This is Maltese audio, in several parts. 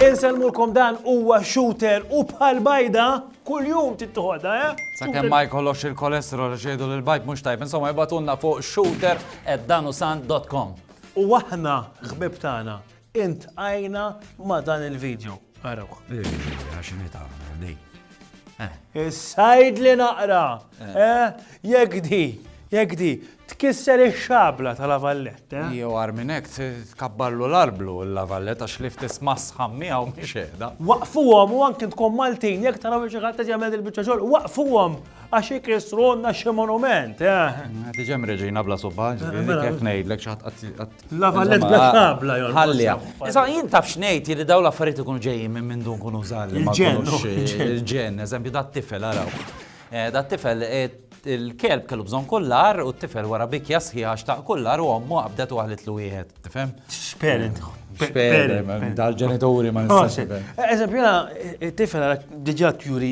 Inselmulkom dan huwa shooter u bħal bajda kuljum tittoħodha, eh? Sakemm ma jkollokx il-kolesterol għax jgħidu li l-bajt mhux tajb, insomma jbatunna fuq shooter@danusan.com. U aħna ħbib tagħna Intqajna ma' dan il-video. Arawh. Ira x'inhi tagħmel di. Is-sajdli naqra! Jekk di, jekk di, tkisser ix-xabla ta' La Vallette, eh? Jew agħar minn hekk tkabbarlu l-arblu il-La Vallette għax li ftit sma' sħan miegħu mhix qiegħda. Waqqfuhom u anki intkom Maltin jekk taraw li xi ħadd qed jagħmel dil-biċċa xogħol, waqqfuhom għax ikissrulna xi monument, eh? Tiġi hemm Reġina bla subba, ġifieri kif ngħidlek xi ħadd qatt La Vallet Black Tab la jolqos. Ħallija. Iżda jien taf x'ngħid jiri daw l-affarijiet ikunu ġejjin minn minn dun kunu żgħar li ma Il-ġenn, jkunux, oh, il-ġenn. il-ġenn, eżempju dat tifel araw. Eh, Dat tifel eh, il-kelb kellu bżonn kullar u t-tifel wara bikja sħiħa xtaq kullar u ommu qabdet u għaħlitlu wieħed, tifhem? Xperent. Xperent, dal-ġenituri ma nistax nifhem. Eżempju, jena, tifel għara diġa tjuri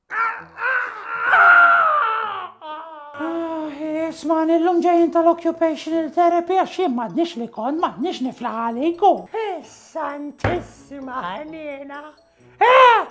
Isman illum ġejjin tal-occupational therapy għax jien m'għadniex li kont m'għadniex niflaħ għaliku. Santissima ħniena. Eh,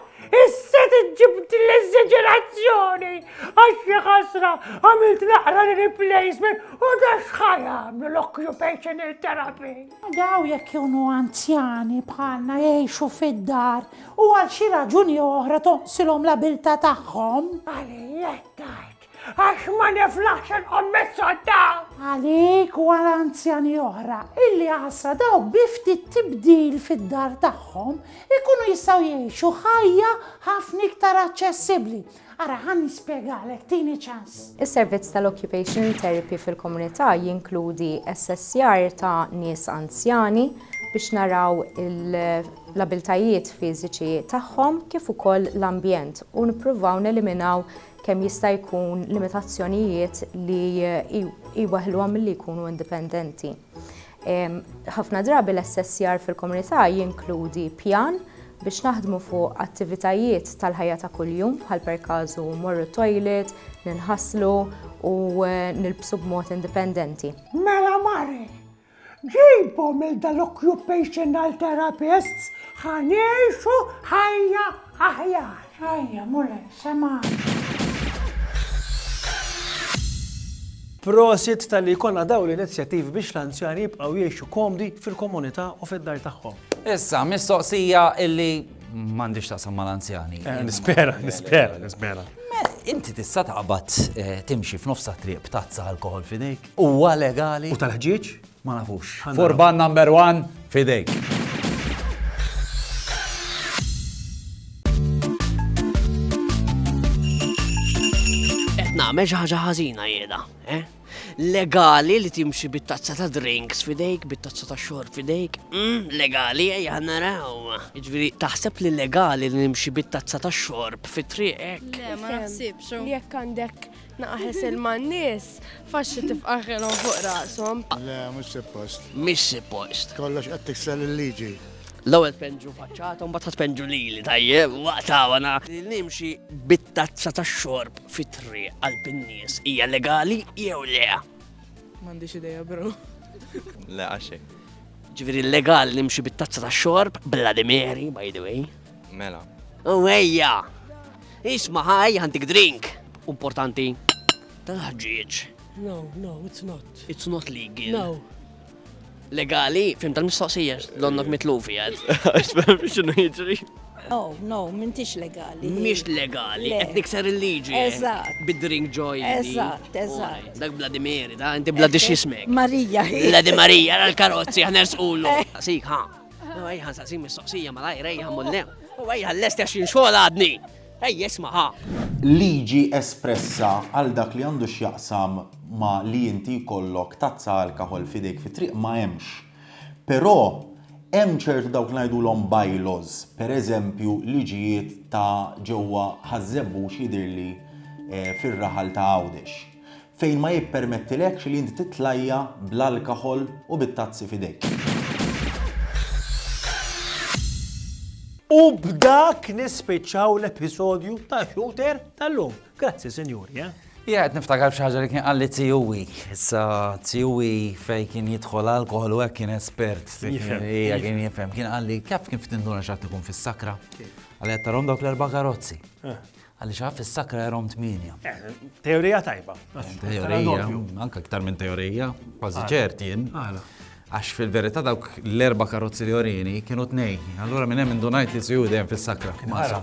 issa tiġġibt l-eżagerazzjoni għax xi ħasra għamilt naqra replacement u dax ħajam l-occupational therapy. Dawn jekk ikunu anzjani bħalna jgħixu fid-dar u għal xi raġuni oħra tonqsilhom l-abiltà tagħhom. Għalija qed tgħid, għax ma niflaħx inqomm mis-sodda! Għalik u għal anzjani oħra illi għassa dawk bi ftit tibdil fid-dar tagħhom ikunu jistgħu jgħixu ħajja ħafna iktar aċċessibbli. Ara, ħa nispjegalek, tini ċans. Is-servizz tal-occupational therapy fil-komunità jinkludi assessjar ta' nies anzjani biex naraw l-abiltajiet fiżiċi tagħhom kif ukoll l-ambjent u nippruvaw neliminaw kemm jista' jkun limitazzjonijiet li jweħħluhom milli jkunu indipendenti. Ħafna drabi l-assessjar fil-komunità jinkludi pjan biex naħdmu fuq attivitajiet tal-ħajja ta' kuljum bħal per kazu morru toilet, ninħaslu u eh, nilbsu b'mod indipendenti. Mela mari, ġibhom il dal-occupational therapists ħanieħu ħajja aħjar. Rajja mule semgħani. Prosit talli jkollna dawn l-inizjattivi biex l-anzjani jibqgħu jgħixu komdi fil-komunità u fid-dar tagħhom. Issa, mistoqsija illi m'għandix taqsam mal-anzjani. Eh, nispera, nispera, nispera. Inti tista' taqbad eh, timxi f'nofs triq b'tazza alkohol f'idejk? Huwa legali? U tal-ħġieġ? Ma nafux. Furban number one f'idejk. Qed nagħmel xi ħaġa ħażina jieda, eh? legali li timxi bit-tazza ta' drinks fidejk, bit-tazza ta' xorb fidejk, mm, legali ejja naraw. Ġviri, taħseb li legali li nimxi bit-tazza ta' xorb fit-triqek? Le, ma naħsibx. Jekk għandek Naqaħes il-mannis, faxxi tifqaħilhom fuq rasom. Le, mhux suppost. Mhix suppost. Kollox qed tiksel il-liġi. L-ewwel tpenġu faċċata u mbagħad tpenġu lili tajjeb waqta wana. Nimxi bit-tazza tax-xorb fit-triq għal bin-nies hija legali jew le? M'għandix idea bro. Le għaxi. Ġifieri legali nimxi bit-tazza tax-xorb bla dimeri by the way. Mela. U ejja! Isma' ħaj, għandik drink. Importanti. Tal-ħġieġ. No, no, it's not. It's not legal. No. Legali, fim tal-mistoqsija, donnok mitlufi għad. Għaxfem xinu jġri. No, no, mintix legali. Mix legali, qed nikser il-liġi. Eżatt. Bid-drink joy. Eżatt, eżatt. Dak Vladimir, da, inti Vladimir xismek. Marija. Vladi Marija, l-karozzi, ħanersqulu. Sik, ha. U ejja nsaqsi mistoqsija malajr ejja mullem. U ejja l-lest għax jinxogħol għadni. Ejja isma' ħa. Liġi espressa għal dak li għandu x'jaqsam ma' li inti jkollok tazza alkoħol f'idejk fit-triq ma hemmx. Però hemm ċertu dawk li ngħidulhom bylaws, pereżempju liġijiet ta' ġewwa Ħaż-Żebbux jidhirli fir-raħal ta' Għawdex. fejn ma jippermettilekx li inti titlajja' bl-alkahol u bit-tazzi f'idejk. U b'dak nispiċċaw l-episodju ta' Shooter tal-lum. Grazzi, sinjuri, eh? Jien qed niftakar f'xi ħaġa li kien qalli tiegħi. Issa tiegħi fejn kien jidħol alkoħol u hekk kien espert. Hija kien jifhem. Kien qalli kif kien ftit x'għad ikun fis-sakra. Għalli qed tarhom dawk l-erba' karozzi. Eh. Għaliex għaf is-sakra jarhom tmienja. Eh, teorija tajba. Teorija, anke iktar minn teorija, kważi ċert jien. Għax fil-verità dawk l-erba' karozzi li orini kienu tnej. Allura minn hemm indunajt li siju dejjem fis-sakra. Mara.